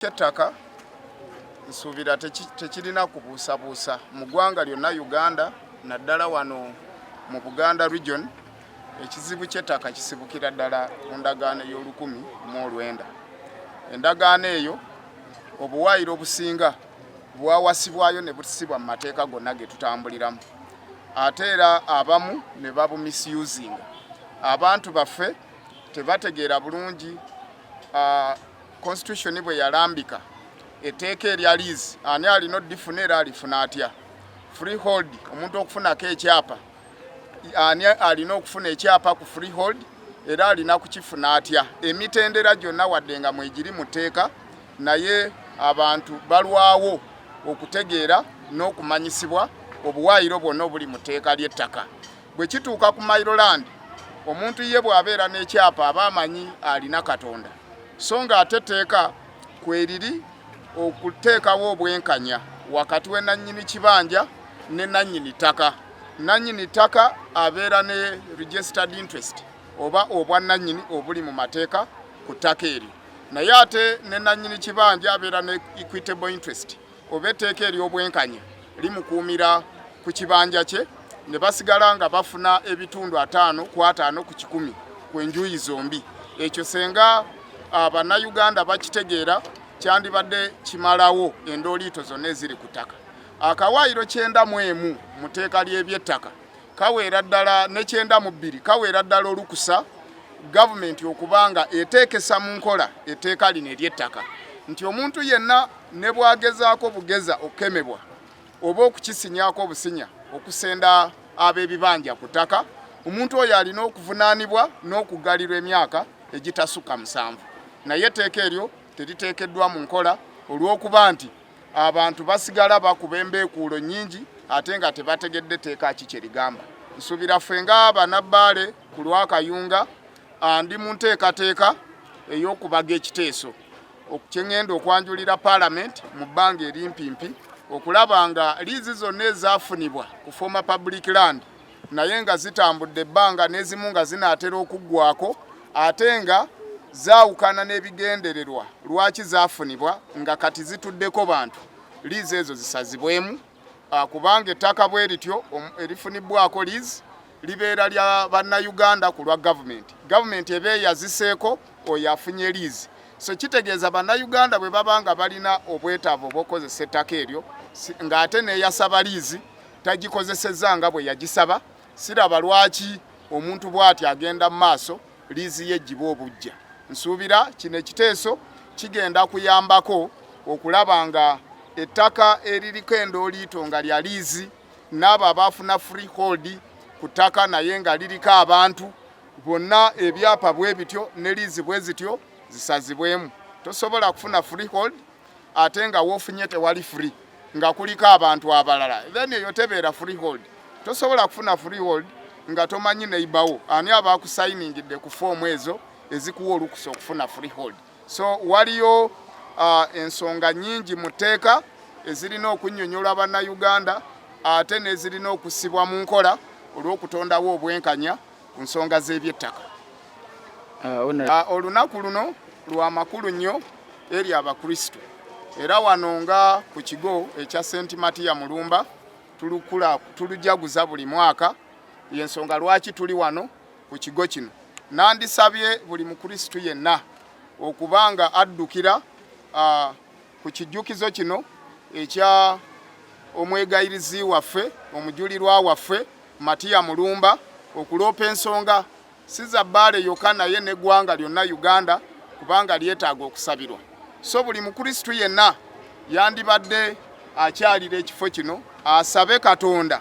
kyettaka nsuubira tekirina kubuusabuusa mu ggwanga lyonna uganda naddala wano mu buganda region ekizibu kyettaka kisibukira ddala ku ndagaano ey'olukumi mu olwenda endagaano eyo obuwaayiro obusinga bwawasibwayo ne busibwa mu mateeka gonna ge tutambuliramu ate era abamu ne babumisusinga abantu baffe tebategeera bulungi ah, Constitution bwe yalambika etteeka erya liizi ani alina odifuna era alifuna atya? Freehold omuntu okufunako ekyapa ani alina okufuna ekyapa ku freehold era alina kukifuna atya? Emitendera gyonna wadde nga mwegiri mu tteeka naye abantu balwawo okutegeera n'okumanyisibwa obuwaayiro bwonna obuli mu tteeka ly'ettaka. Bwe kituuka ku Mayiroland, omuntu ye bw'abeera n'ekyapa aba amanyi alina Katonda, so ng'ate etteeka kweriri okuteekawo obwenkanya wakati we nannyini kibanja ne nannyini ttaka. Nannyini ttaka abeera ne registered interest oba obwannannyini obuli mu mateeka ku ttaka eryo, naye ate ne nannyini kibanja abeera ne equitable interest oba etteeka ery'obwenkanya limukuumira ku kibanja kye ne basigala nga bafuna ebitundu ataano ku ataano ku kikumi ku enjuyi zombi ekyo senga ah, bannayuganda bakitegeera kyandibadde kimalawo endooliito zonna eziri ku ttaka akawaayiro kyenda mu emu mu tteeka ly'ebyettaka kaweera ddala nekyenda mu bbiri kaweera ddala olukusa gavumenti okuba nga eteekesa mu nkola etteeka lino ery'ettaka nti omuntu yenna ne bwagezaako bugeza okukemebwa oba okukisinyaako obusinya okusenda ab'ebibanja ku ttaka omuntu oyo alina okuvunaanibwa n'okuggalirwa emyaka egitasukka musanvu naye etteeka eryo teriteekeddwa mu nkola olw'okuba nti abantu basigala bakuba embeekuulo nnyingi ate nga tebategedde etteeka ki kye ligamba nsuubira ffe nga banabbaale ku lwakayunga ndi mu nteekateeka ey'okubaga ekiteeso kyeŋŋenda okwanjulira paalamenti mu bbanga erimpimpi okulaba nga liizi zonna ezaafunibwa ku former public land naye nga zitambudde ebbanga n'ezimu nga zinaatera okuggwako ate nga zaawukana n'ebigendererwa lwaki zaafunibwa nga kati zituddeko bantu liizi ezo zisazibwemu ah, kubanga ettaka bwe lityo erifunibwako liizi libeera lya bannayuganda ku lwa gavumenti gavumenti eba eyaziseeko oyo afunye liizi so kitegeeza bannayuganda bwe baba nga balina obwetaavu obwokukozesa ettaka eryo ng'ate neyasaba liizi tagikozesezza nga bwe yagisaba siraba lwaki omuntu bw'ati agenda mu maaso liizi ye gibwa obujja nsuubira kino ekiteeso kigenda kuyambako okulaba nga ettaka eririko endooliito nga lya liizi n'abo abaafuna freehold ku ttaka naye nga liriko abantu bonna ebyapa bwe bityo ne liizi bwe zityo zisazibwemu tosobola kufuna freehold ate nga wofunye tewali free nga kuliko abantu abalala then eyo tebeera freehold tosobola kufuna freehold nga tomanyi neibawo ani aba kusayiningidde ku foomu ezo ezikuwa olukusa okufuna freehold so waliyo uh, ensonga nyingi mu tteeka ezirina okunyonyola bannayuganda ate nezirina okusibwa mu nkola olw'okutondawo obwenkanya ku nsonga z'ebyettaka ah, ah, olunaku luno lwa makulu nnyo eri abakristu era wano nga ku kigo ekya senti matiya mulumba tulujaguza buli mwaka yensonga lwaki tuli wano ku kigo kino. Nandisabye buli Mukristu yenna okuba nga addukira ku kijjukizo kino ekya omwegayirizi waffe omujulirwa waffe Matiya Mulumba okuloopa ensonga si za bbaale yokka naye n'eggwanga lyonna Uganda kubanga lyetaaga okusabirwa. So buli Mukristu yenna yandibadde akyalira ekifo kino asabe Katonda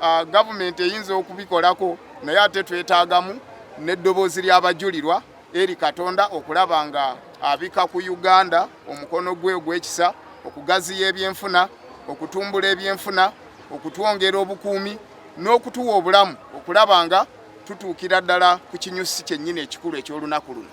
uh, government eyinza okubikolako naye ate twetagamu n'eddoboozi ly'abajulirwa eri katonda okulaba nga abika ku uganda omukono gwe ogw'ekisa okugaziya ebyenfuna okutumbula ebyenfuna okutwongera obukuumi n'okutuwa obulamu okulaba nga tutuukira ddala ku kinyusi kyennyini ekikulu eky'olunaku luno